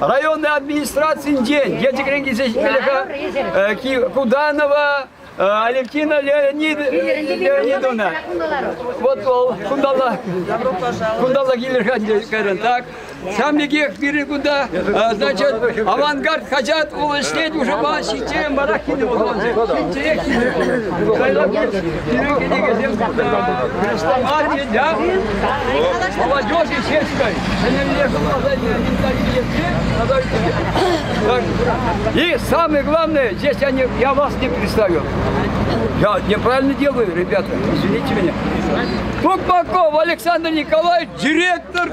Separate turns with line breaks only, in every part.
районти администрацинчен Елчӗкрен килсе ҫитмелле-ха Куданова Алевтина Леонидовна. Вот вӑл кунталла кунталла килер-ха кайран так. Сам пекех пирӗн кунта, значит, авангард хаҫат улӑшнет уже Чембарах кинӗ вӑл Ҫинчех кинӗ. Кайлакур пирӗн кӗнекесем Молодежь и чешской. Ҫӗнӗлле И самое главное, здесь они, я вас не представил. Я неправильно делаю, ребята, извините меня. Тукмаков Александр Николаевич, директор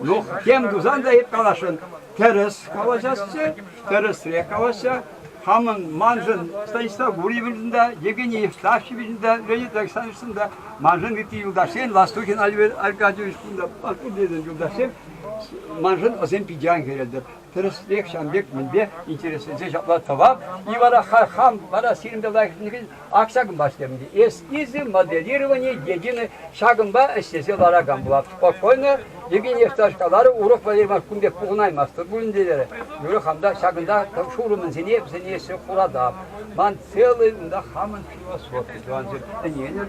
Ну, тем тусан та каласшӑн. Тӗрӗс калаҫасчӗ, тӗрӗсрех калаҫса. Хамӑн, маншӑн Станислав Гурьевичӑн та, Евгений Евстафьевичӑн та, Леонид Александровичӑн та, маншӑн ытти юлташсен, Ластухин Аркадьевич кун та паскудленӗ юлташсем, маншӑн вӗсем питӗ ан кӗретӗп. Тӗрӗсрех ҫавӑн пек мӗнпе интересленсе ҫапла тӑвап, и вара хам вара сирӗнпе лайӑхланакан акҫакӑмпа ӗҫлерӗм. Эс изи моделировани единый ҫакӑнпа ӗҫлесе ларакан пулап. Спокойно, Евгений Евтушевич каларӗ, урок валерийма кун пек пухӑнаймастӑр пулин те терӗ. Юрӗ, хам та ҫакӑнта шурӑмӗсене вӗсене эсӗ хуратап. Ман целый унта хамӑн философи, тӑвансем, ӗненӗр.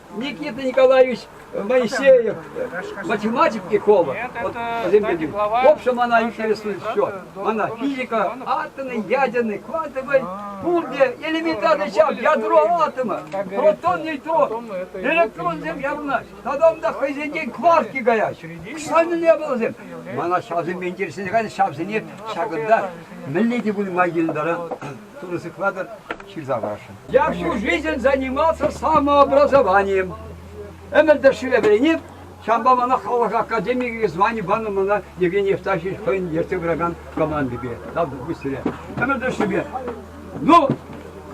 Никита Николаевич Моисеев, математик Икова. Вот вӗсемпе В общем, она интересует все. Она физика, атомы, ядерный, квантовый, пулде, элементарный чам, ядро атома, протон, нейтрон, электронсем явнаҫ. Тогда да хӑйсенчен кварки каять. Шанı не было зем. Мана шавсем интересен, ҫавсене ҫакӑнта мӗнле те пулма килдара. Тырӑ сыхлатӑр, ҫырса парасшӑн. Я всю жизнь занимался самообразованием. Ӗмӗртешре вӗренеп, ҫавӑнпа мана халӑх академийӗ звани панӑ мана Евгений Евтафьевич хӑйӗн ертсе пыракан командипе, тав быстрее. Ӗмӗртешрипе. Ну,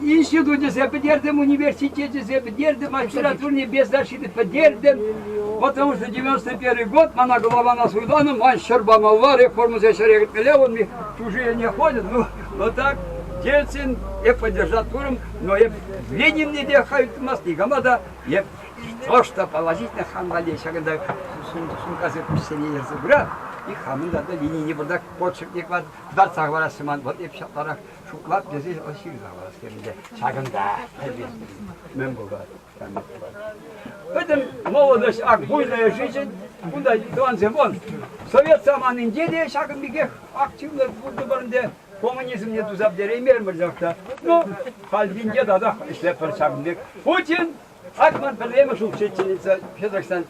институтӗсем пӗтертӗм, университечӗсем пӗтертӗм, магистратурне без защиты пӗтертӗм. Потому что 91 год, мана голована суйланӑ, ман ҫӗр памалла, реформӑсен ҫӗре кӗтмелле, он мне чужие не ходят, ну, Но так Ельцин эп поддержал туром, но эп в Ленинне те хаюттымас, никама да эп то, что положительно хан валли ҫакӑнта сумкасе пуҫсене ерсе пырат, и хамӑн да Ленине burada подшипник var, дартса хӑварасчӗ ман, вот эп ҫатларах шутлап тесе ҫырса хӑварас терӗн те, ҫакӑнта, мӗн пулать? Пӗтӗм молодость ак буйная жизнь. Кунта тӑвансем вон совет саманинче те ҫакӑн пекех активно пуртӑпӑр ӗнтӗ. Коммунизмне туса пӗтереймермӗрлех та. Ну, хальхинче татах ӗҫлетпӗр ҫакӑн пек. Путин, Акман пӗрремӗш учительница Казахстан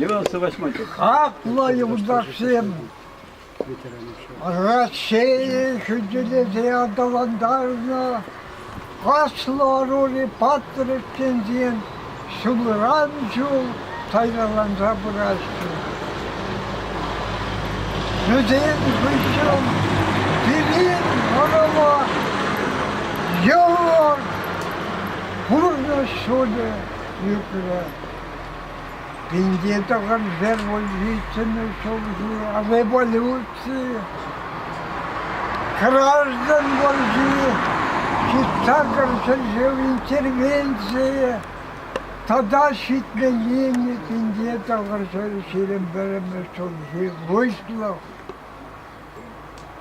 Йӑласӑ Ваҫманчук. Аклӑ
юлташсем! Россия хӳтӗлесе аталантарнӑ аслӑ ӑрури патрӗксенчен ҫулран ҫул сайраланса пыраҫҫӗ. Вӗсен хыҫҫӑн пирӗн ӑрӑва йӑлӑ пурнӑҫ ҫулӗ ӳкрӗ. Пинте тӑхӑршер вольницӑн ҫулҫи революци, граждан вӑрҫи, ҫыхтаркӑр ҫӗршыв интервенцийӗ тата ҫитменнине пинте тӑхӑршер ҫирӗм пӗрмӗш ҫулҫи выҫлӑх.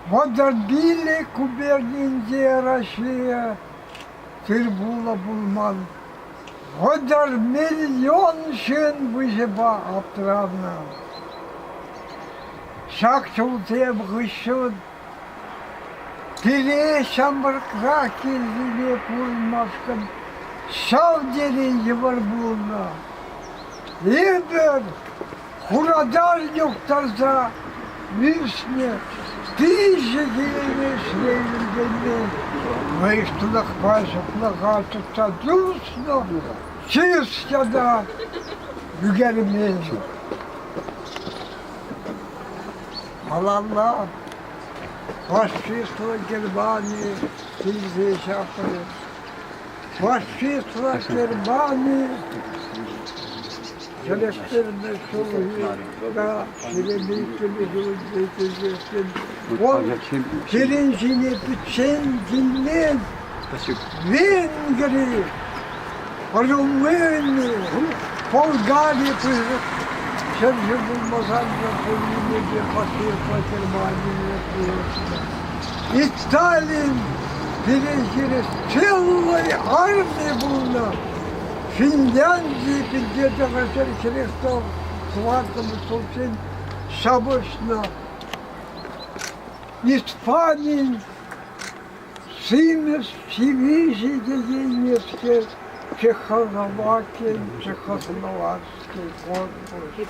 Водобили губернинче Россия тыр-пуллӑ пулман. Вӑтӑр миллион ҫын выҫӑпа аптӑранӑ. Ҫак ҫулсем хыҫҫӑн пире ҫамрӑкра кирлине курмашкӑн ҫав тери йывӑр пулнӑ. Эпир Хунавтар юхтарса виҫнӗ виҫӗ килӗмешрен ӗнтӗлнӗ мӑйӑш тунахпа ҫаплаха тытса туслӑ чыс ята ӳкермен. Малалла фашистла Германи килсе ҫапрӗ. Фашистла Германи тӗлӗштернӗ ҫулхине ҫӗнтерӳҫӗ вӑл пирӗн ҫине пӗччен килмен Венгри, Румыни, Болгари ҫӗрҫи пулмасан та пулнине те фашистла Германи пулӑшнӑ. Сталин пире хирӗҫчиллӑй армия пулнӑ. Финляндии пирки тӑхӑр средства хватному толчен ҫапӑҫнӑ. Испанин симӗс дивизии те еймеске Чехословакин, Чехословацкий корпус.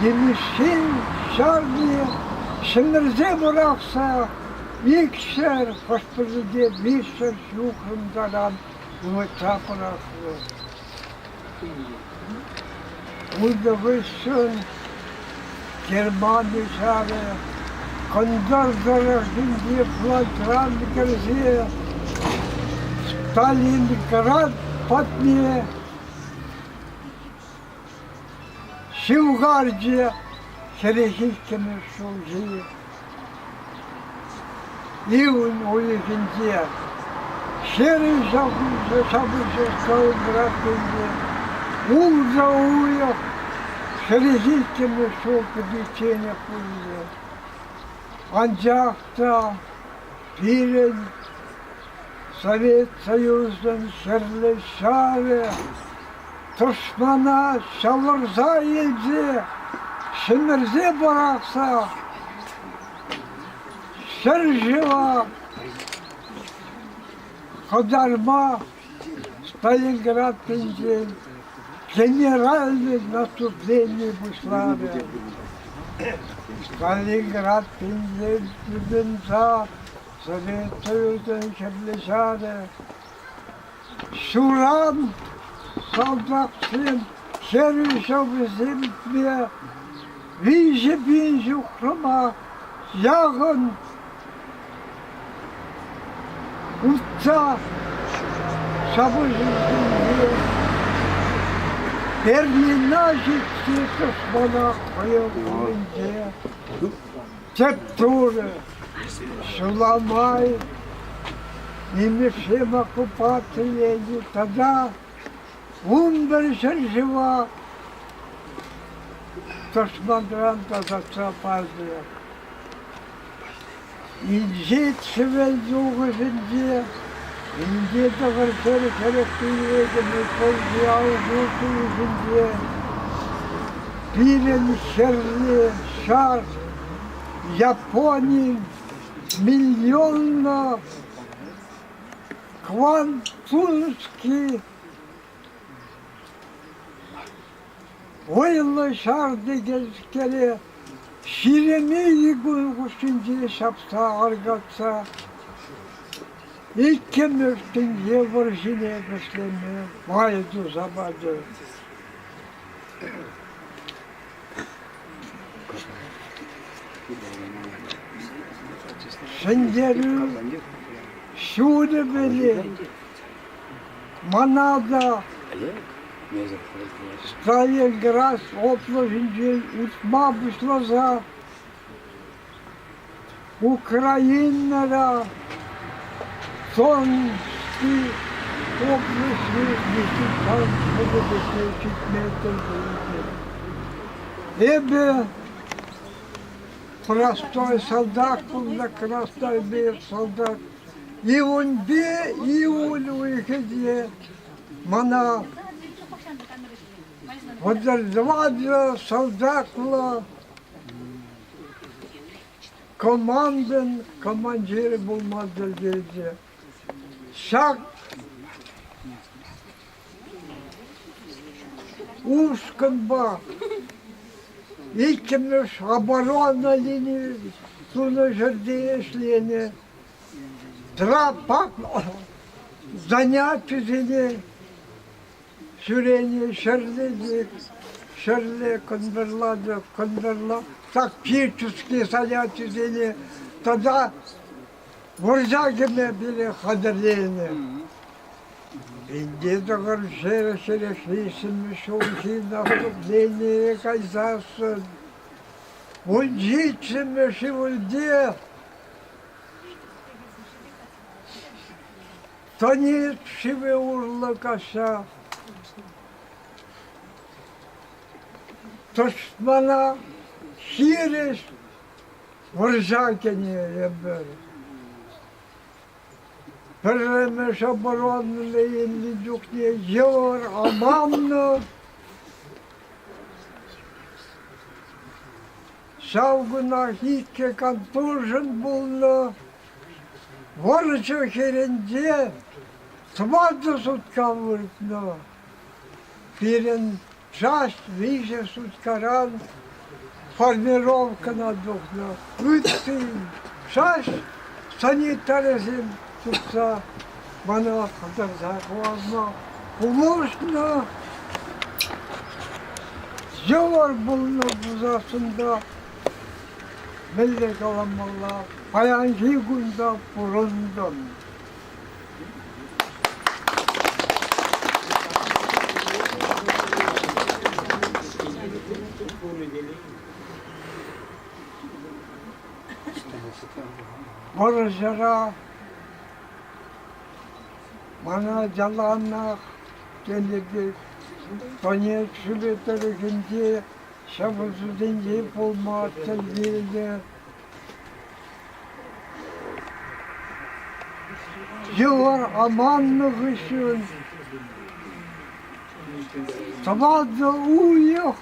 Темиҫен ҫарне ҫӗмӗрсе пӑрахса икҫӗр хӑш-пӗринпе виҫҫӗр ҫухрӑм таран ывӑтса пӑрахрӗ. Унтӑ хыҫҫӑн Германи ҫарӗ кӑнтӑр тӑрӑхӗнчи флайтран кӗрсе Сталинград патне Ҫывхарчӗ хӗрӗхиккӗмӗш ҫулҫи. Июнь уйӑхӗнче ҫӗрӗ ҫапӑҫса Калининградсенче улшӑ уйӑх хӗрӗхиккӗмӗш ҫул кӗтичченех пулчӗ. Анчах та пирӗн Совет Союзӗн Хӗрлӗ Ҫавӗ тӑшмана ҫавӑрса илсе ҫӗмӗрсе пӑрахса ҫӗр-шыва хӑтарма Сталинградсенчен генеральное наступление пуҫларӗ. Сталинград ҫинчен тытӑнса Советуйӑн Хӗрлӗ Ҫарӗ ҫуран салтаксем ҫӗрӳ ҫӑвӗсемпе виҫӗ пин ҫухрӑма яхӑн утса ҫапӑҫусенче Пермина ҫитсе космонавт вӑйӑ умӗнче Тӗп турӗ ҫула май нимӗҫсем оккупаци енӗ тата унпӗр ҫӗршыва тӑшманран тасатса пачӗ. Инҫет Хӗвел тухӑҫӗнче Инке тӑхӑр чӗрӗ-чӗрӗк пиллетӗнӗ кӗлти алӑкӗ килӗшӗнче пирӗн ҫӗрле ҫар Японин миллионлӑ квантунский Вӑйлӑ ҫар текенскере Ҫиремейли кун хушшинче ҫапса аркатса иккӗмӗш тӗнче вӑрҫине вӗҫлеме май туса пачӗ. Ҫӗнтерӳ ҫулӗ вӗри Мана та Сталинград облаҫӗнчен утма пуҫласа Украинӑра Томский облаҫне десантан ҫӗнӗлӗхе ҫитмесӗр пулӑшнӑ. Эпӗ простой солдат, кунта красноармеец солдат Июньпе июль уйӑхӗче мана подорвали салтаклӑ командин командирӗ пулма тӗллевчӗ. Ҫак Ушкӑнпа иккӗмӗш оборона линийӗ тунӑ ҫӗрте ӗҫленӗ. Трапа занятисене ҫӳренӗ ҫӗрле те ҫӗрле кӑнтӑрла та кӑнтӑрла тактические занятисене тата Вӑрҫа кӗме пире хатӗрленӗ. Инке тӑхӑрҫӗре ҫӗлӗклессӗмӗр ҫулхи наступление кайсассӑн мунчиччӗмӗр шывӑльте. Тонет шывӗ урлӑ каҫса. Тӑшмана хирӗҫ Вӑрҫакӗн-и эпӗ? Пӗрремӗш оборонӑна илнӗ чухне йывӑр аманнӑ. Ҫав кунах иккӗ контужен пулнӑ. Вӑрҫӑ хирӗнче тӑватӑ сутка выртнӑ. Пирӗн Часть виҫӗ суткаран формировкӑна тухнӑ, ытти шасть санитарӗсем тупса мана хӑтарса хӑварнӑ. Художнӑ йывӑр пулнӑ пулсассӑн та мӗнле каламалла, паянхи кун та пурӑнтӑм. Вӑрҫӑра мана яланах тенӗ Донецк шӗвӗ тӑрӑхӗнче ҫапӑсусенче пулма тӗл килнӗ. Йӑла аманнӑ хыҫҫӑн тӑватӑ уйӑх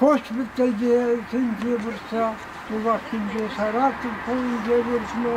госпитальте сентябрьса тулашӗнче Саратов хулинче выртнӑ.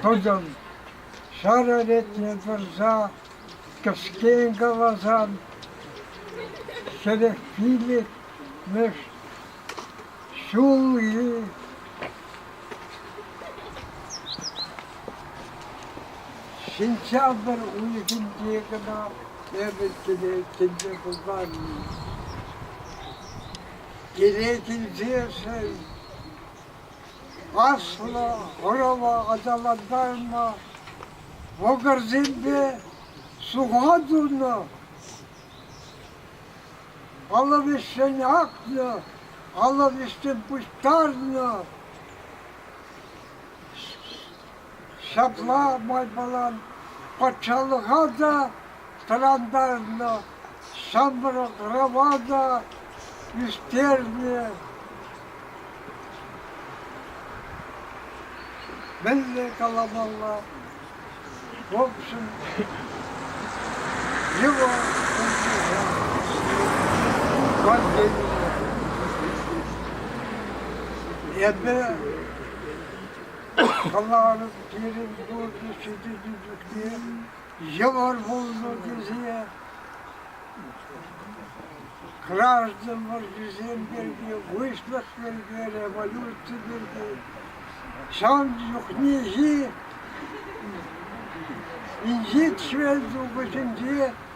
Тутӑм ҫарӑ ретне пырса кӗскен каласан ҫӗрӗк пилӗкмӗш ҫул-и. Сентябрь уйӑхӗнче кӑна эпӗ тӗле пулман-и. Кире килсешӗн Аслӑ ӑрӑва аталантарма вӑкӑрсемпе суха тунӑ, алӑ вӗҫҫӗн акнӑ, алӑ вӗҫҫӗн пуҫтарнӑ. Ҫапла майпала патшалӑха та тӑрантарнӑ, ҫамрӑк-рӑва та ӳстернӗ. Мӗнле каламалла? В общем, его Евгения. Эпӗ Каларӑм пирӗн турӑ ҫитӗнӳлӗхне йывӑр пулнӑ тесе. Граждан вӑрҫисем пирки, выҫлӑх пирки, революци пирки ҫавӑн чухнехи инҫет швед тухӑҫӗнче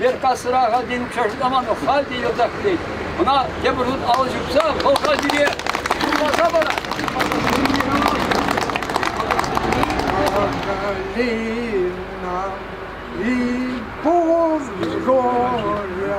Беркасӑра халь Чашламан халь те йӑлтах килет. Ӑна тепӗр хут алӑ ҫупса вӑлха сире юрласа парать.
Горя.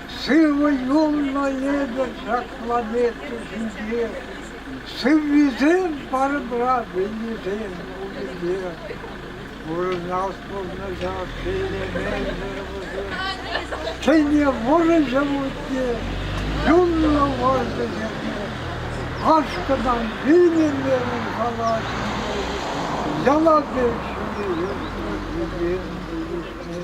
Сывӑ эпӗ ҫак планета ҫинче, сыввисем парӑмра вилнисем пуринпе. Пурӑнас пурнӑҫа шеллемесӗр Ҫӗнӗ вӑрҫӑ вутне, юнлӑ вӑрҫӑ йӗрке. Ашкӑнан вилнӗмерӗн халаҫне, яла пек ҫине йӗрке вилен вилӗшне.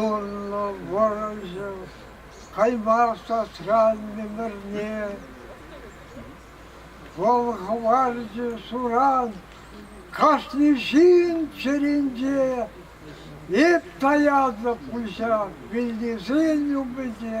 Юнлӑ вӑрӑҫӑ кайма сасран мӗмӗрне вӑл хӑварчӗ суран кашни ҫын чӗринче. Эп таяннӑ пуҫа вилнисен умӗнче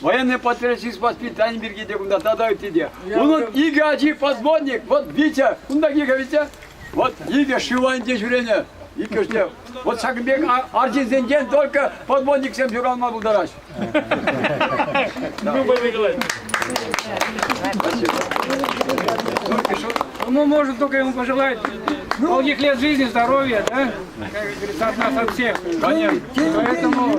Военный подпорядочник воспитания пирки те кунта тата ытти те. Унӑн икӗ ачи подмонник. Вот Витя, кунта икӗ Витя. Вот икӗ Шиланде ҫӳренӗ. Иккӗшне. Вот ҫакӑн пек арҫынсенчен только подмонниксем ҫуралма пултараҫҫӗ.
Ну, может, только ему пожелать долгих жизни, здоровья, да? Как говорится, от нас от
всех.
Конечно. Поэтому...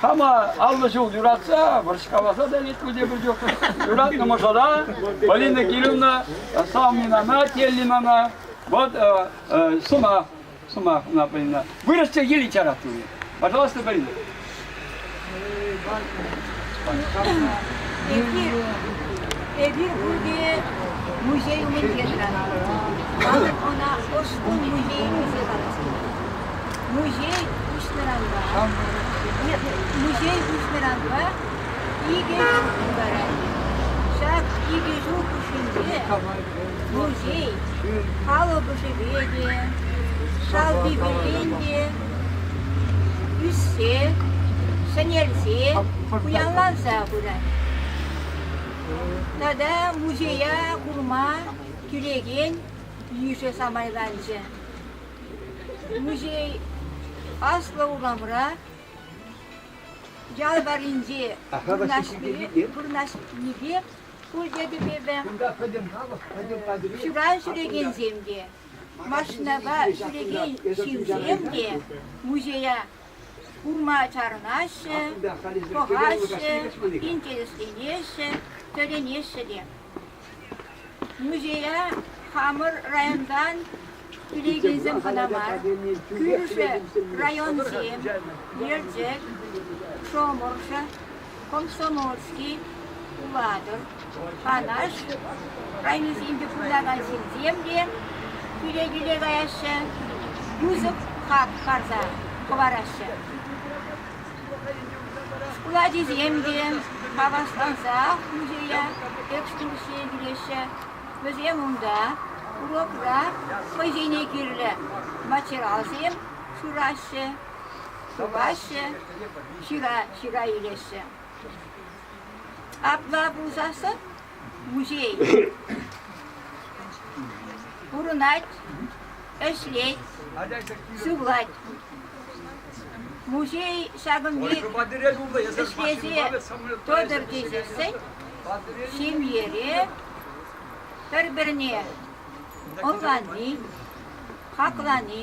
Хама аллӑ ҫул юратса, вӑрҫкаласа та лекрӗ те пӗр чух. Юратнӑ мӑшӑра, Полина Кирилловна Салминана, Теллинана, вот э, э, сӑмах, сӑмах ӑна Полина. Выросте ели литературы. Пожалуйста, Полина. Эпир, эпир Гурдие музей умӗнче тӑратпӑр. Палӑк ӑна Ӑшкун
музейӗ тесе калаҫтӑмӑр. Музей пуҫтаранпа музей пуҫтаранпа икӗ ҫул тултарать. Ҫак икӗ ҫул хушшинче музей калӑпӑшӗпе те, шалпипелен те ӳссе, сӗнелсе, пуянланса пырать. Тата музея курма кӳрекен йышӗ самайланчӗ. Музей Аслӑ урамра, ял варринче вырнаҫнипе шкул йӗпӗтӗвӗ, ҫуран ҫӳрекенсем те, машинапа ҫӳрекен ҫынсем те музея курма чарӑнаҫҫӗ, пӑхаҫҫӗ, интересленеҫҫӗ, тӗлӗнеҫҫӗ те. Музея хамӑр районтан килекенсем кӑна мар, кӳршӗ районсем, Елчӗк, Шоморшо, Комсомольски, Улатӑр, Канаш районӗсенче пурӑнакан ҫынсем те кӳле-кӳле каяҫҫӗ, пысӑк хак парса хӑвараҫҫӗ. Шкул ачисем те хавасланса музея экскурсие килеҫҫӗ. Вӗсем унта урокра хӑйсене кирлӗ материалсем шыраҫҫӗ, сӑваҫҫӗ, ҫыра ҫыра илеҫҫӗ. Апла пулсассӑн музей пурӑнать, ӗҫлет, сывлать. Музей ҫакӑн пек ӗҫлесе тӑтӑр тесессӗн ҫемьере пӗр-пӗрне ӑнлани, хаклани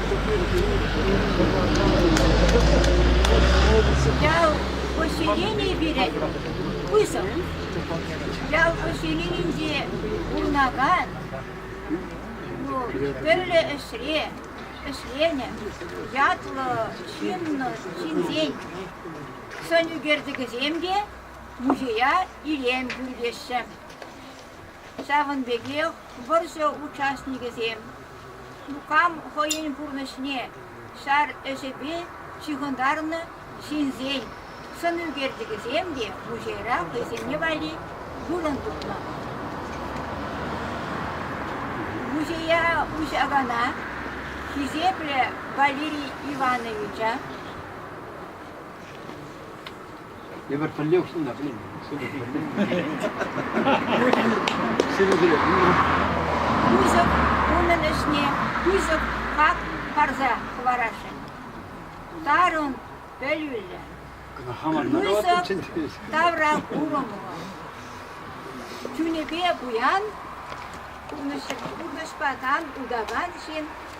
Ял поселенийӗ пире пысӑк. Ял поселенинче пурӑнакан ну, тӗрлӗ ӗҫре ӗҫленӗ ятлӑ ҫыннӑн ҫынсен сӑн ӳкерчӗкӗсем те музея илем кӳртеҫҫӗ. Ҫавӑн пекех вӑрҫӑ участникӗсем Шукам хӑйӗн пурнӑҫне ҫар ӗҫӗпе ҫыхӑнтарнӑ ҫынсен сӑн ӳкерчӗкӗсем те музейра хӑйсене валли вырӑн тупнӑ. Музея уҫакана хисеплӗ Валерий Ивановича
Эпир пӗрле уҫнӑ, блин, шутӑ пӗрле.
Сирӗнсене пулнӑ. Пысӑк унӑн ӗҫне пысӑк хак парса хӑварасшӑн. Тарӑн пӗлӳллӗ. Кӑна хаман народ тавра курӑмлӑ. Чунӗпе пуян, пурнӑҫпа тан утакан ҫын,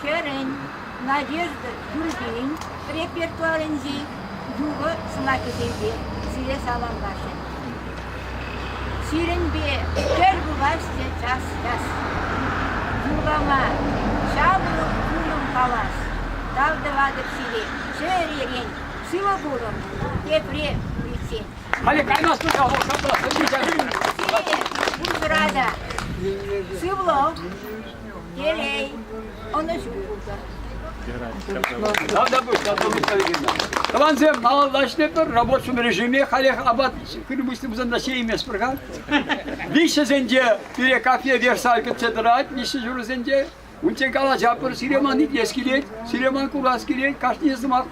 Хӗрӗн, Надежда Юрбин репертуарӗнчи юрӑ сӑмахӗсемпе сире саламлаҫҫӗ. Сирӗнпе тӗл пуласчӗ час-час. Юрлама чавлӑ пулӑм калас. Тав тӑватӑп сире чӗререн. Сывӑ пулӑн, тепре килсен. Халӗ каймастӑн
ҫав вӑл шӑпла. Сирӗн
пурсӑра та сывлӑх,
Телей, ӑнӑҫу пултӑр. Тӑвансем, малалла ӗҫлетпӗр. Рабочем режиме халех апат Крымышный пусанда ҫейместпӗр-ха. Виҫҫӗсенче пире кафе Версаль кӗтсе тӑрать, виҫҫӗ ҫурӑсенче. Унчен калаҫатпӑр, Сиреман итлес килет, Сиреман курас килет, кашни сӑмах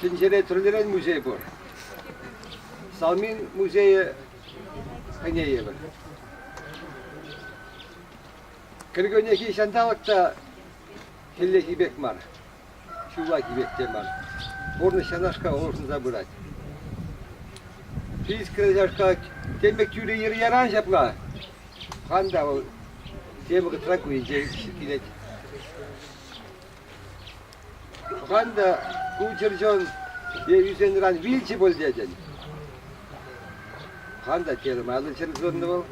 Тӗнчере тӗрлӗрен музей пур. Салмин музейӗ хӑнейӗпӗр. Кӗркуннехи ҫанталӑк та хӗллехи пек мар, ҫуллахи пек те мар. Пурнӑҫ ҫанашка улшӑнса пырать. Пит кӗрешашка тем пек тӳрӗ йӗр-яран ҫапла. Хан та вӑл тем вӑхӑтра ку килет. Тӑван та ку чӗрчун е ӳсенран вилчӗ пуль тетӗн. Хан та термайлӑ чӗрчунлӑ вӑл.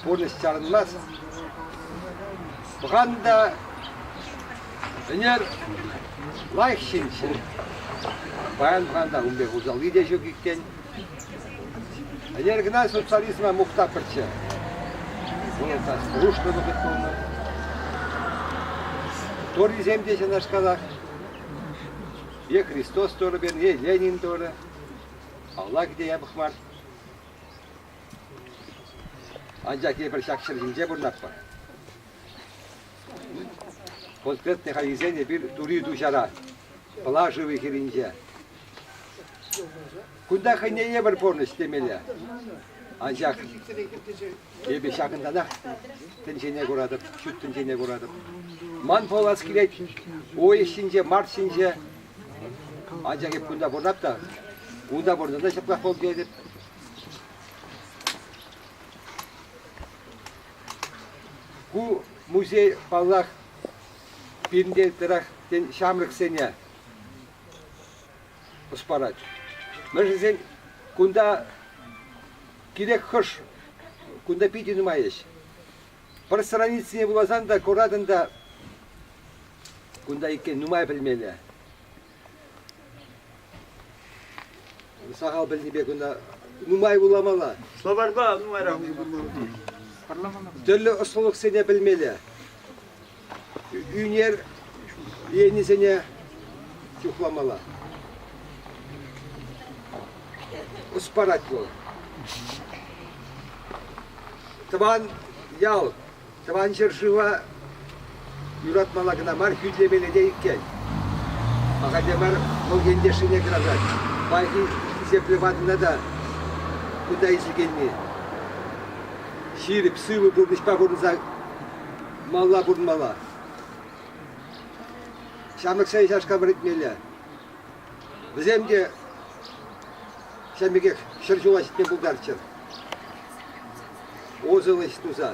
Пурнӑҫ чарӑнмасть. Хан та ӗнер лайӑх ҫынччӗ. Паян хан та ун пек усалли те ҫук иккен. Ӗнер кӑна социализма мухтапӑрччӗ. Вулӑсах дружба вӑхӑт пулнӑ. Торисем те ҫакнашкалах. Е Христос Торы перни, Ленин Торы. Алла кӗте япӑх мар. Анчах эпир ҫак ҫӗр ҫинче пурӑнатпӑр. Портрет хайхисен эпир тури ту ҫара, Пла шывӗ хирӗнче. Кунта хӑйне евӗр пурнӑҫ темелле. Анчах эпӗ ҫакӑнтанах тӗнчене куратӑп, ҫут тӗнчене куратӑп. Ман пулас килет, ой ҫинче, март ҫинче. Анчах эп кунта пурӑнап та, унта пурӑннӑ ҫаплах пултарӑп. Ку музей, паллах, пирӗнте тӑрах, тен, ҫамрӑксене ӑс парать. Мӗншӗн кунта кирек хӑш, кунта питӗ нумай ӗҫ. Пӗр страницине вуласан та, куратӑн та, кунта иккен нумай пӗлмелле. Сахал пӗлнипе кунта нумай вуламалла. Словарьпа нумайрах
вулама тӑрӑшмалла.
Тӗрлӗ ӑслӑлӑхсене пӗлмелле. ӳнер енӗсене чухламалла. Ӑс парать вӑл. Тӑван ял, тӑван ҫӗршыва юратмалла кӑна мар, хӳтлемелле те иккен. Ахальте мар вӑл ентешӗне кӑтартать. Паянхи хисеплӗ ватӑна та кунта илчекенни. Ҫирӗп, сывӑ пурнӑҫпа пурӑнса Малла пурӑнмалла. Ҫамрӑксен чашка вӗретмелле. Вӗсем те ҫавӑн пекех ҫӗр ҫула ҫитме пултарччӑр. Озовость туса,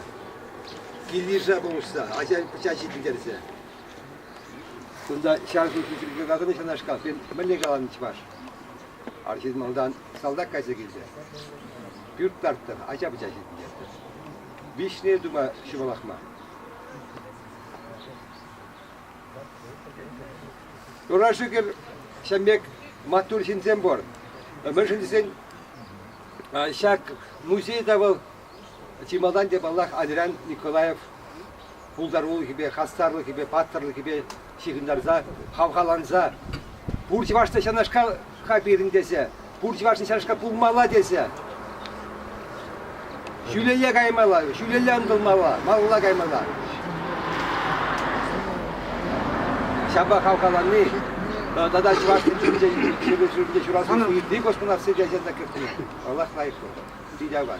килйыша пулӑшса, ача пӑча ҫитӗнтерсе. Кунта ҫар служби пирки каланӑ ҫунашкал. Мӗнле каланӑ чӑваш? Арҫын малтан салтак кайса килтӗ. Пӳрт тарттӑр, ача пӑча ҫитӗнтертӗр. виҫне тума ҫӑмӑлах мар. Ура шӳкӗр ҫамек маттур ҫынсем пур. Мӗншӗн тесен ҫак музейта вӑл чи малтан те, паллах, Адрян Николаев пултарулӑхӗпе, хастарлӑхӗпе, паттӑрлӑхӗпе ҫыхӑнтарса, хавхаланса, пур чӑвашла ҫавнашка пирӗн тесе, пур чӑвашла ҫавнашка пулмалла тесе, ҫӳлелле каймалла, ҫӳлелле ӑнтӑлмалла, малалла каймалла. Ҫапа хавхаланни тата чӑваш культуринче ҫӗршывӗнче ҫуралса ытти космонавтсем те ҫырса кӗртнӗ. Аллах лайӑх куртӑр. Питӗ аван.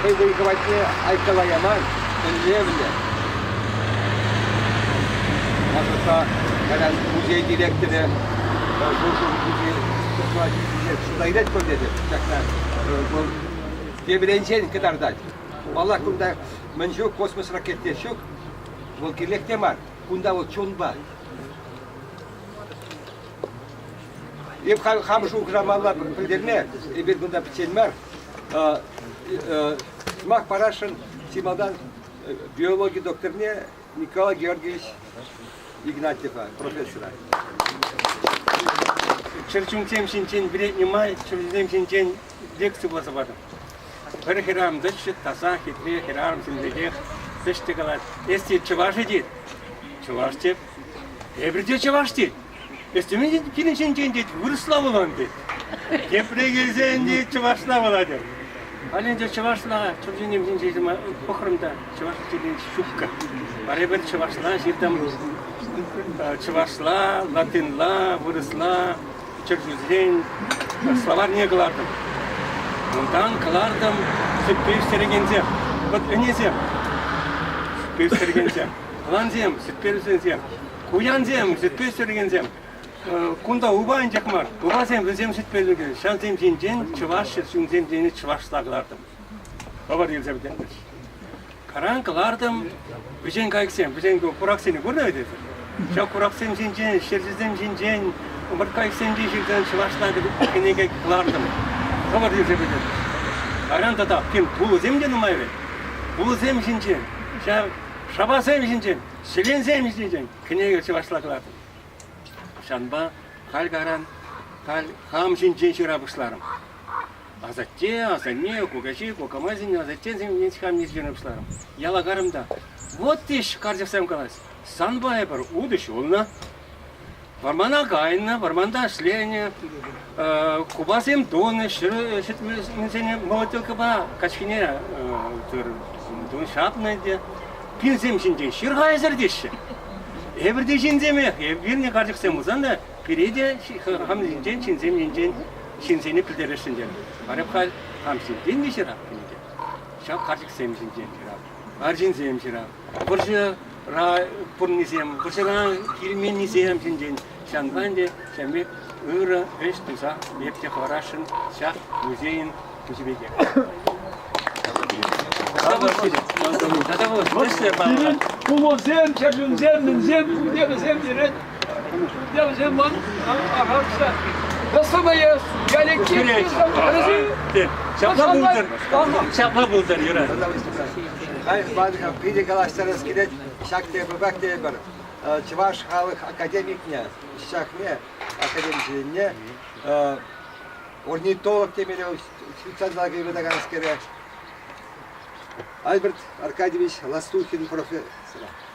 хӑй вӑй хӑватне айккала яман, тӗллевлӗ. Асӑрхса кайран музей директорӗ шур-шур кӳпе ҫыртма ҫитнӗ шута илет пуль тетӗп ҫакна. Вӑл тепринчен кӑтартать. Паллах, кунта мӗн ҫук, космос ракети ҫук. Вӑл кирлех те мар. Кунта вӑл чунпа. Эп хам шухӑшламалла пӗлтерме, эпир кунта пӗччен мар, Сӑмах парасшӑн чи малтан биологи докторне Николай Георгиевич Игнатьева, профессора.
Чӗрчунсем ҫинчен вӗреннӗ май чӗрчунсем ҫинчен лекци пулса патӑм. Пӗр хӗрарӑм тӑччӗ, таса, хитре хӗрарӑмсем пекех тӑччӗ калать. Эсти чӑваш тет? Чӑваш тет. Эпир те чӑваш тет. Эстеменен килӗнченчен, тет, вырӑсла вулан, тет. Тепре килсен, тет, чӑвашла вулатӑп. Халӗ ӗнтӗ чӑвашла чӑвшенем ҫинчен пӑхрӑм та чӑваш текен ҫупка. Пӗрре пӗр чӑвашла ҫыртам. Чӑвашла, латинла, вырӑсла, чӗрчусрен словарьне кӑлартӑм. Унтан кӑлартӑм сӳтпе ӳстерекенсем, вот ӗнесем, сӳтпе ӳстерекенсем, плансем, сӳтпе ӳстерекенсем. Куянсем, сӗтпе ҫӳрекенсем, кунта упа анчах мар, упасем вӗсем сӗтпелӗкӗ. Ҫавсем ҫинчен чӑваш ҫынсем тени чӑвашла кӑлартӑм. Хӑвӑр илсе вӗтентӗш. Каран кӑлартӑм вӗҫен кайӑксем, вӗҫен кураксене курнӑ эсир? Ҫав кураксем ҫинчен, ҫерҫисем ҫинчен, ӑмӑрткайӑксенчен ҫырсан чӑвашла кӗнеке кӑлартӑм. Хӑвӑр илсе вӗтентӗш. Кайран тата тем пулӑсем те нумай вӗт. Пулӑсем ҫинчен, ҫав шапасем ҫинчен Ҫӗленсем ҫитӗн кӗнеке чӑвашла тӑватӑп. Ҫавӑнпа халь каран, халь хам ҫинчен ҫыра пуҫларӑм. Асатте, асанне, кукаҫи, кукамайсен, асаттен семьен хамне ҫырӑн пуҫларӑм. Яла карӑм та, вот иҫ карчӑксем калаҫ, санпа эпир утӑ ҫулнӑ. Вӑрмана кайнӑ, вӑрманта ӗҫленӗ, купасем тунӑ, ҫӗр ҫӗтменсене молотилкӑпа качкине ҫапнӑ те. Пинсем ҫинчен ҫырха ӗсӗртеҫҫӗ. Эпир те ҫынсемех, вилнӗ карчӑксем пулсан та пире те хам ҫинчен, ҫынсем ҫинчен ҫынсене пӗлтересшӗн терӗ. Вара хам ҫинчен те ҫырап кӗнӗ те. Ҫав карчӑксем ҫинчен ҫырап, арҫынсем ҫырап. вӑрҫӑра пурӑннисем, вӑрҫӑра килменнисем ҫинчен ҫынсан те ҫамрӑк ырӑ ӗҫ туса ертсе хӑварасшӑн ҫак музейӑн тусӗ пекех. Пулӑсем, чӗрчунсем, мӗнсем
пурте вӗсем йӗрет. Ҫапла пултӑр.
Ҫапла пултӑр, Юрай. Hayır,
Badika, питӗ калаҫтарас килет. Ҫак тейпӗпех тейпӗр. Чӑваш халӑх академикне, ҫакне, академичӗсене, орнитолог темелле вӑл швейцарла кайбытаканскере, Альберт Аркадьевич Ластухин профессора.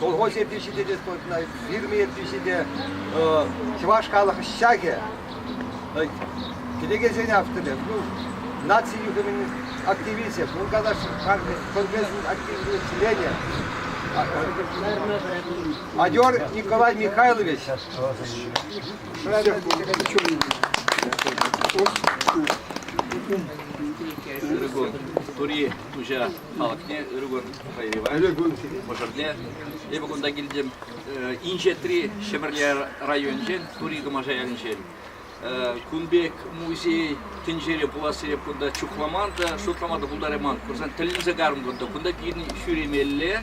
колхоз ертӳҫи те, фирма ертӳҫи те, чӑваш халӑх ҫакӗ, килекенсен авторӗ, ну, наци юхӑмӗн активисчӗ, Бургадаш конфесин активлӗ членӗ, Адер Николай Михайлович.
Тури, туҫа. малакне ыргӑн хайрива ыргӑн мӑшӑрне эпӗ кунта килтӗм инҫетри Ҫӗпӗрле районӗнчен Тури Кӑмаша ялӗнчен кун пек музей тӗнчере пулас сереп кунта чухламан та шутлама та пултарайман курсан тӗлӗнсе карӑм кунта кунта килни ҫӳремелле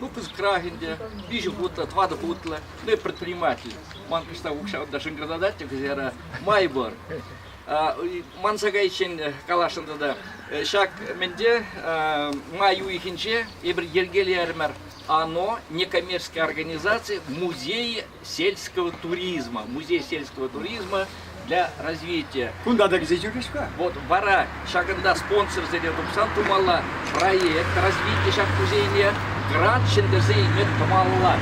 Выпуск крах ӗнтӗ, виҫӗ хутлӑ, тӑватӑ хутлӑ, ну и предприниматель. Ман кӑштах укҫа та шӑнкӑртатать, кӗсера май пур. Манса кайиччен каласшӑн тата. Ҫак мӗнте май уйӑхӗнче эпир йӗркелерӗмӗр. Оно, некоммерческая организация, музей сельского туризма, музей сельского туризма для развития. Кунта та кӗсе ҫӳрӗҫ-ха.
Вот вара
ҫакӑнта спонсорсене тупсан тумалла проект развития ҫак музейне грант ҫӗнтерсе илме тумалла.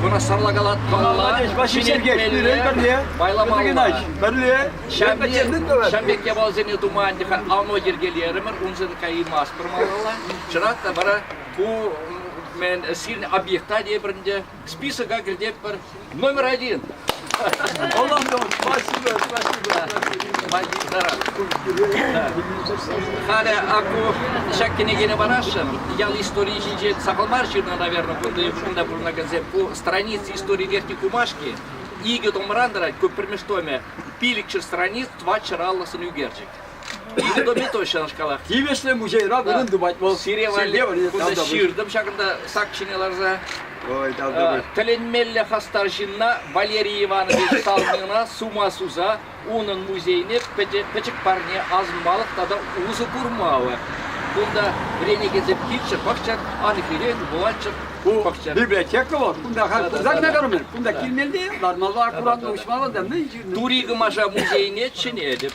Вырасарла калат Молодец, Василий Сергеевич, пирӗн пӗрле, Пайлапалла. Пӗрле, ҫамбек япаласене туман тӗха ано йӗркелерӗмӗр, унсӑн каймастпӑр малалла. Чӑрат та вара ку мен сирн объекта тепрінде Списока кӗртетпӗр. Номер один. Оландо, спасибо, спасибо. Магистра. Халӗ аку ҫак кӗнекене парасшӑн. Ял историйӗ ҫинче сахал мар ҫырнӑ, наверное, кунти шкулта пурӑнакансем. Ку страница истории верхней Кумашки. Икӗ томран тӑрать, ку пӗрмеш томӗ. Пилӗкҫӗр страниц, тӑват ҫӑраллӑ сӑн ӳкерчӗк. Комитет ҫавнашкалах тивӗҫлӗ музейра
вырӑн тупать вӑл. Сире валли кунта
ҫыртӑм ҫакӑнта сак ҫине ларса. Тӗлӗнмелле хастар ҫынна Валерий Иванович Салмина сума суса унӑн музейне пӗчӗк парне асӑнмалӑх тата усӑ курмалӑх. Кунта вӗренекенсем килччӗр, пӑхчӑр, анхире вулаччӑр, пӑхчӑр. Библиотека вӑл, кунта
хак пулсан та кӗрмӗр, кунта килмелле, лармалла аккуратно уҫмалла та мӗн ҫырнӑ. Тури Кӑмаша музейне
чӗнетӗп.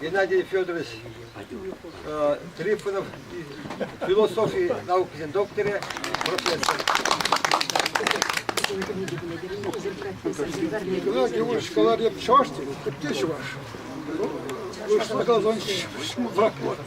Геннадий Федорович Трифонов философи наукисен докторӗ, профессор.
Геннадий Иванович говорит чуваш, те чуваш. Вы что должны работать?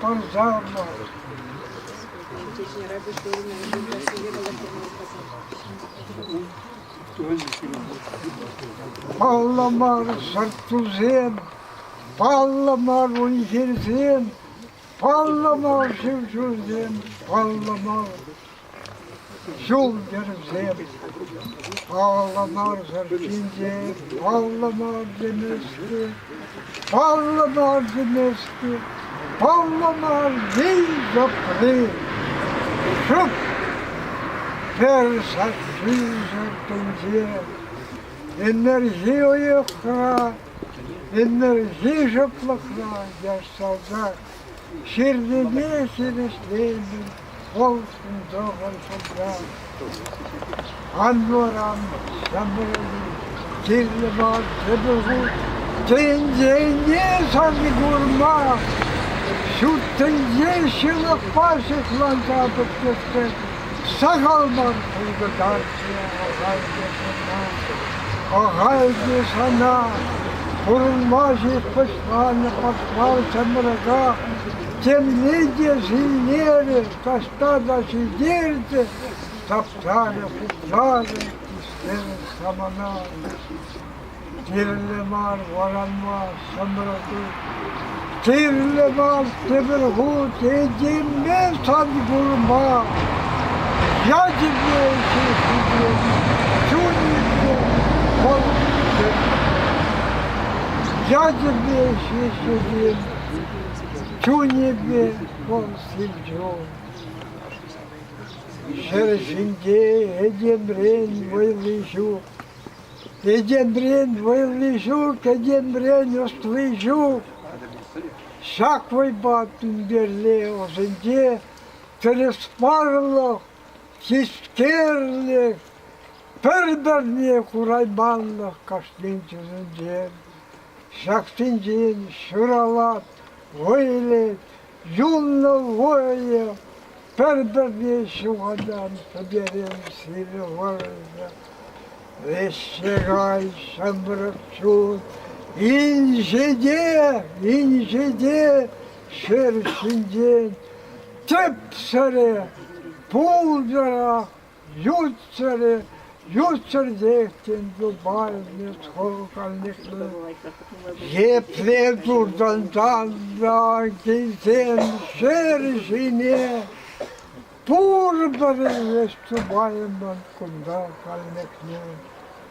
Пӑрҫалнӑ. Паллӑ мар сӑрт-тусем, паллӑ мар уй-хирсем, паллӑ мар шыв ҫулсем, паллӑ мар Ҫул-йӗрсем паллӑ марсӑр ҫинче, паллӑ марсем ӗҫлӗ, паллӑ марсем ӗҫлӗ, паллӑ марсен тӑпри. Шӑп пӗр сасси шартинче энерги уйӑхра, энерги шӑплӑхра яшсаса ҫырнине хирӗҫлеймӗн. Толстендорфӑн шутра Анноран Ҫамрӑкӗн Тилмар Тӗпӗху тӗнчене сарни курма ҫут тӗнче ҫылӑхпа ҫыхланса пӗтмессе сахал мар пулкӑтарчӗ ахальте сана, ахальте сана. Пурӑнма ҫеҫ пӑчланӑ пӑхмар ҫамрӑка Земли те ҫиллерӗ, таҫта та ҫӗлтерчӗ, тапсарӗ, пуҫларӗ, ӳстерӗ самана. Тирлӗ мар варанма ҫӑмрӑкӗ. Тирлӗ мар тепӗр хут этеме сан курма. Ячӗпе ҫыххине, чунӗпе пӑлхине. Ячӗпе ҫыххине. чунӗпе вӑл сивчун. Ҫӗр ҫинче этемрен вӑйлӑ ҫук. Этемрен вӑйлӑ ҫук, этемрен ӑстли ҫук. Ҫак вӑйпа тӳнтерле ӑсенче тӗрӗспарлӑх, хистерлӗх, пӗр-пӗрне курайманлӑх кашнин чысӗнче. Ҫаксенчен ҫӑралат, вӑйлӑ, юнлӑ вӑйӑ. Пӗр-пӗрне ҫухатан пӗтерем сирӗ вӑрҫӑ. Веҫҫе кай, ҫамрӑк чун, инҫе те, инҫе те ҫӗр ҫинчен тӗп сӗре, пултӑра Ют ҫӗрӗ, ют ҫӗртех, тен, юпанӗ, сӑкӑлканӑклӑ. Епле туртӑн танра килсен ҫӗр ҫине пурпӗр вӗҫ тупаймӑн кунта кайнӑкне.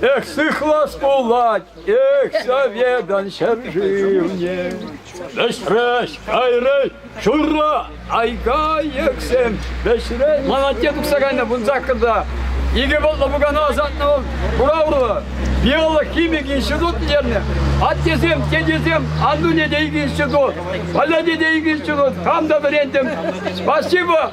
Эх, сыхлас пулать, эх, соведан ҫӗршывне. Вӗҫрӗҫ, кайрӗҫ, шурра, айга ексем, вӗҫрӗҫ. Молодец тухса кайнӑ вун саккӑрта. Икӗ вӑлтлӑ пукана ӑсатнӑ вӑл Бураврово. Биологхимик институт тернӗ. Аттесем, тетесем Андуне те икӗ институт, Поляне те икӗ институт. Кам та вӗрентӗм. Спасибо.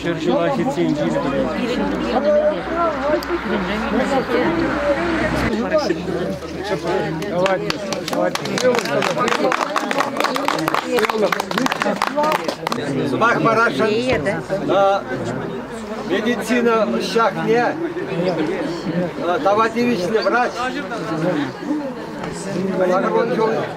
Ҫӗр ҫула ҫитсен килӗ
Сӑмах парасшӑн медицина ҫакне тава тивӗҫлӗ врач. Барон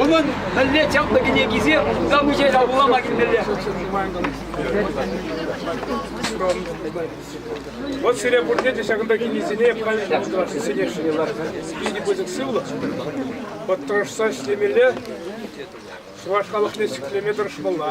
Унӑн мӗнле чаплӑ кӗнекисе замучайра вулама килмелле.
Вот сире пурте те ҫакӑнта килнисене сӗнесшӗн ларса. Питӗ пысӑк сывлӑх. Подтӑрӑшса ӗҫлемелле, чӑваш халӑхне ҫӗклеме тӑрӑшмалла.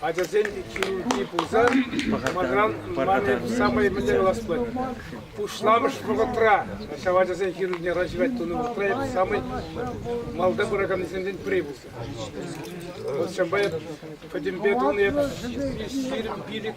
Ачасен хирурги пулсан, сӑмахран, манӑн самай мӗнле калас пулать, пуҫламӑш вӑхӑтра ҫав ачасен хирургне врачран тунӑ вӑхӑтра эп самай малта пыраканнисенчен пӗри пулса. Вӑл ҫавӑнпа эп пӗтӗмпе тунӑ эп сирӗн пилӗк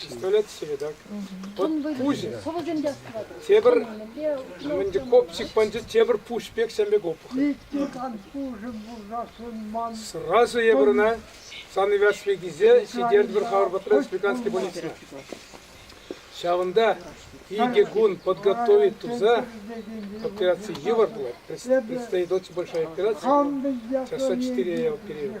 Пистолет Седок. Пуҫӗ. Тепӗр Мендиков психбандит тепӗр пуҫ пек сен пек опухоль. Сразу эпир ӑна санывясли кисе сидертвӗр хавӑрпатра республиканский больницӑна. Ҫавӑнта икӗ кун подготовить туса операции йывӑр было. Предстоит очень большая операция. Часа четыре я оперировал.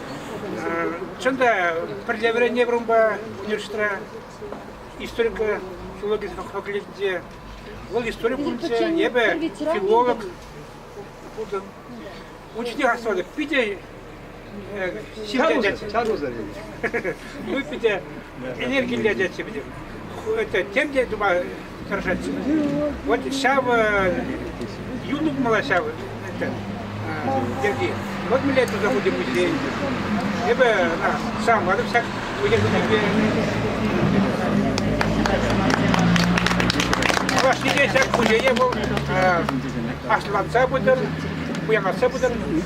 Чӑн та пӗрле вӗренетпӗр унпа университетра историко филологи факультетӗнче. Вӑл истори пункчӗ, эпӗ филолог пултӑм. Учитель хастарта питӗ сиплӗ. Чарусӑр. Мы питӗ энергиллӗ отечество это тем те тума тӑрӑшать. Вот ҫав юлӑмла ҫав это йӗрки. Вот мы лето забудем музей. Эпӗ сам атӑм ҫак университетпе Чӑваш ҫине ҫак музее вӑл асланса пытӑр, пуянлатса пытӑр.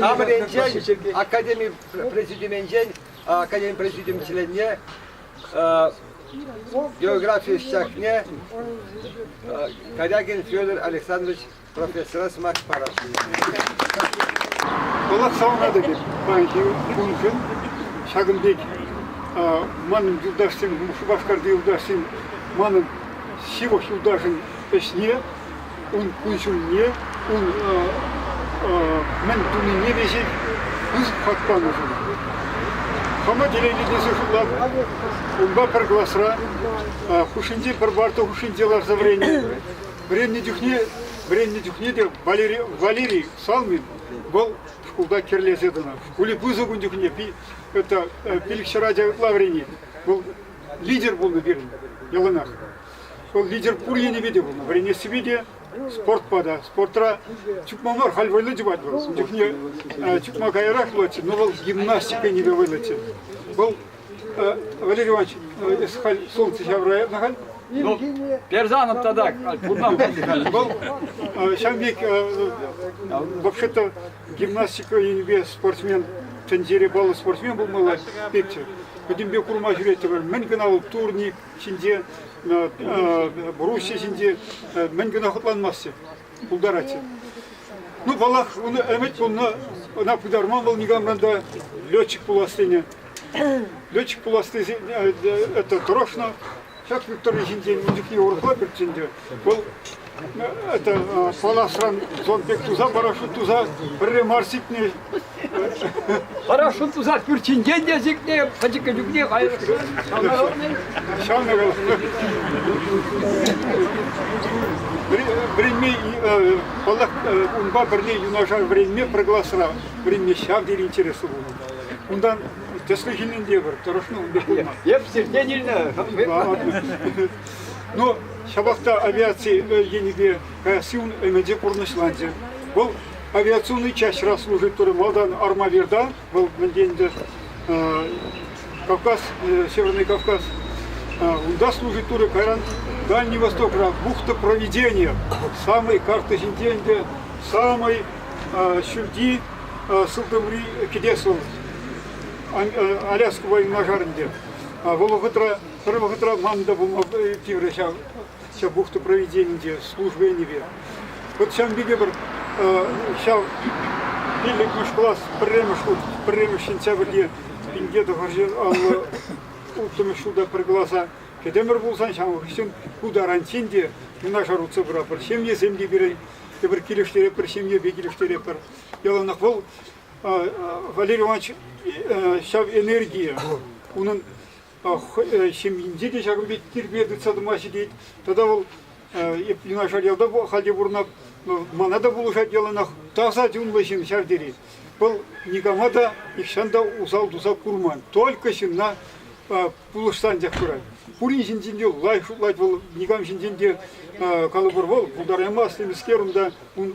Хамӑренчен, академи президиуменчен, академи президиум членне, географи ӗҫчахне Корягин Федор Александрович профессора сӑмах парас.
Калаҫсалладӑ тет паянхи куншӑн ҫакӑн пек манӑн юлташсем, Шупашкарти юлташсем, манӑн ҫывӑх юлташӑн ӗҫне ун кун-ҫулне, ун мӗн тунине веҫех пысӑк хак панӑшӑн. Хама телейлӗ тесе шутлап, унпа пӗр класра хушшинчи пӗр парта хушшинче ларса вӗреннӗ. Вӗреннӗ чухне вӗреннӗ чухне те Валерий, Валерий Салмин вӑл шкулта кӗрлесе тӑнӑ. Шкуле пысӑк ун чухне это пилӗкҫӗр ача ытла вӗренет. Вӑл лидер пулнӑ пирӗн яланах. Сол лидер пур енӗпе те вӗренессипе те спортпа та. Спортра чупма мар, халь вӑйлӑ чупать вӑл. Ун чухне чупма каярах юлатчӗ, но вӑл гимнастика енӗпе вӑйлӑччӗ. Вӑл Валерий Иванович, эс халь солнце ҫавраятна халь? Ну,
Перзанов тата кунтан пулчӗ Вӑл
ҫавӑн пек вообще-то гимнастика енӗпе спортсмен тӗнчере баллӑ спортсмен пулмалла пекчӗ. Пӗтӗмпе курма ҫӳреттӗмӗр. Мӗн кӑна вӑл турник, ҫинче, Руси ҫинче мӗн кӑна хӑтланмастчӗ, пултаратчӗ. Ну, паллах, ун ӗмӗт пулнӑ, ӑна пытарман вӑл никамран та летчик пулас тенӗ. Летчик пулас тесе это тӑрӑшнӑ. Ҫак Виктория ҫинчен инҫекне урӑхла пӗрччӗ ӗнтӗ. Вӑл это паласран зон пек туса парашют туса пӗрре мар сикнӗ.
Парашют туса пӳрчинчен те сикнӗ, пӗчӗккӗ чухне кайрӑшран
ҫавнӑ. Вӗренме паллах унпа пӗрле юнашар вӗренме пӗр класра вӗренме ҫав тери интереслӗ пулнӑ. Унтан тӗслӗ ҫыннин те пӗр тӑрӑшнӑ унпа пулман. Эп сиртен
илнӗ.
Но ҫапах та авиаци енӗпе каясси ун ӗмӗчӗ пурнӑҫланчӗ. Вӑл авиационный частьра служит турӗ. Малтан Армавирта, вӑл мӗнте ӗнтӗ Кавказ, Северный Кавказ, унта служит турӗ. Кайран Дальний Востокра бухта проведения, самой карты ҫинче ӗнтӗ самый ҫӳлти сылтӑмри кӗтес вӑл, Аляска военножар ӗнтӗ. Вӑл вӑхӑтра Пӗр вӑхӑтра хам та пулма тиврӗ ҫав, ҫав бухта проведенинче, службенипе. Вот ҫавӑн пекех пӗр ҫав пиллӗкмӗш класс пӗрремӗш хут, пӗрремӗш сентябрьте пинке тӑхӑрҫын аллӑ улттӑмӗш ҫулта пӗр класа кӗтӗмӗр пулсан, ҫавӑн хыҫҫӑн ку таранччен те юнашар утса пыратпӑр. Ҫемьесем те пирӗн тепӗр килӗштеретпӗр, ҫемьепе килӗштеретпӗр. Яланах вӑл, Валерий Иванович, ҫав энергия, унӑн ҫемйинче те ҫакӑн пек тирпей тытса тӑма ҫитет. Тата вӑл юнашар ялта халь те пурӑнать, мана та пулӑшать яланах. Таса чунлӑ ҫын ҫав тери. Вӑл никама та, нихҫан та усал-тусал курман. Только ҫынна пулӑшса анчах пырать. Пурин ҫинчен те лайӑх шутлать вӑл, никам ҫинчен те калӑпӑр, вӑл пултараймасть темскер унта, ун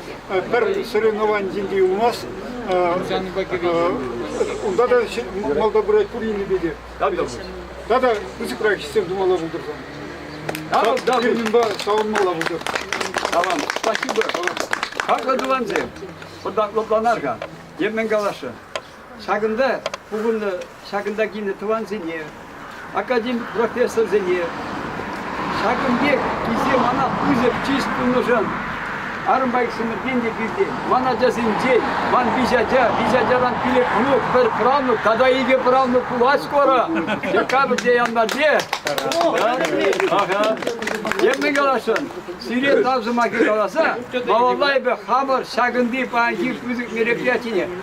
пӗр соревновани ҫинче юлмасть. Унта та малта пырать пуринпе те. Тата пысӑкрах ӗҫсем тумалла пултӑр.
Пирминпа
савӑнмалла пултӑр. Tamam.
Спасибо. Хаклӑ тӑвансем. Хӑта лӑпланар-ха. Yemin калашы. Ҫакӑнта пухӑннӑ, ҫакӑнта килнӗ тӑвансене, академик профессорсене, ҫакӑн пек килсе мана пысӑк чыс тунӑшӑн армбайсемӗртен те килтен, ман ачасенчен, ман виҫ ача, виҫ ачаран пилӗк мӑнук, пӗр правнук тата икӗ правнук пулать скоро. Чекапӗр те январьте. Темле каласшӑн, сире тав сӑмахӗ каласа, малалла эпӗ хамӑр ҫакӑнти паянхи пысӑк мероприятине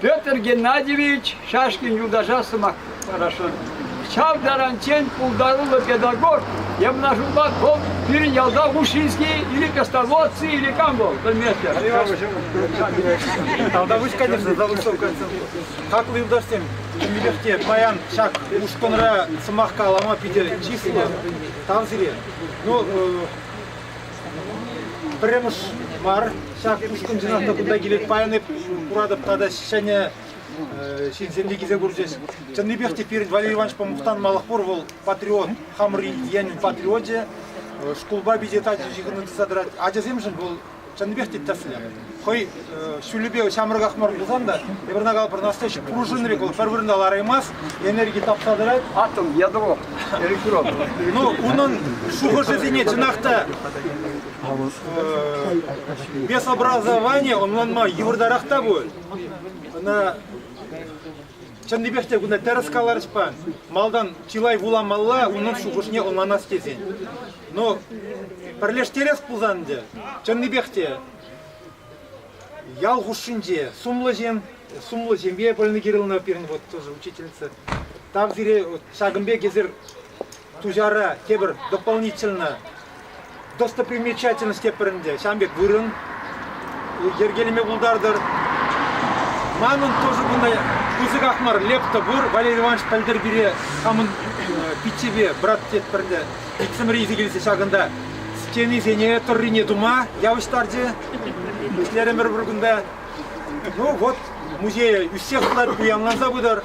Петр Геннадьевич Шашкин юлташа сӑмах парасшӑн. Ҫав таранччен пултаруллӑ педагог Ямнашулпа вӑл пирӗн ялта Ушинский или Косноводцы или кам вӑл, пӗлместӗп.
Тавта выҫ кайдӑр, залустовка. Хаклӑ юлташсем, тимлӗх те паян ҫак ушкӑнра сӑмах калама питӗ чыслӑ. Тав сире. Ну, Пӗрремӗш мар, ҫак ушкӑн чӑнах та кунта килет. Паян эп куратӑп тата ҫӗнӗ ҫынсем те килсе курчӗҫ. Чӑннипех те пирӗн Валерий Ивановичпа мухтанмалӑх пур. Вӑл патриот, хамӑр енӗн патриочӗ. Шкулпа пиче тачӑ ҫыхӑну тытса тӑрать. Ачасемшӗн вӑл чӑннипех те тӗслӗ. хӑй ҫулӗпе ҫамрӑках мар пулсан та Пӗрнакал Пӑрнастӑҫ пружинӑри вӑл пӗр вырӑна лараймасть, энерги тапса тӑрать. Атом, ядро,
электрод. Ну, унӑн
шухӑшӗсене чӑнах та без образования ӑнланма йывӑртарах та пуль. Ӑна Чӑннипех те кунта тӗрӗс каларӗҫ-па, малтан чылай вуламалла унӑн шухӑшне ӑнланас тесен. Но пӗрлештерес пулсан ӗнтӗ, чӑннипех те ял хушшинче сумлӑ ҫын, сумлӑ ҫемье Полина Кирилловна пирӗн вот тоже учительница, тав сире ҫакӑн пек эсир Туҫара тепӗр дополнительно достопримечательность тепӗр ӗнтӗ. Ҫавӑн пек вырӑн йӗркелеме пултартӑр. Манӑн тоже bunday пысӑках мар лепта пур. Валерий Иванович пӗлтӗр пире хамӑн пиччепе брат тетпӗрте иксӗмӗр илсе килсе ҫакӑнта стенисене тӑррине тума явӑҫтарчӗ. Ӗҫлерӗмӗр пӗр кунта. Ну вот, музее ӳссех пулать, пуянланса пытӑр.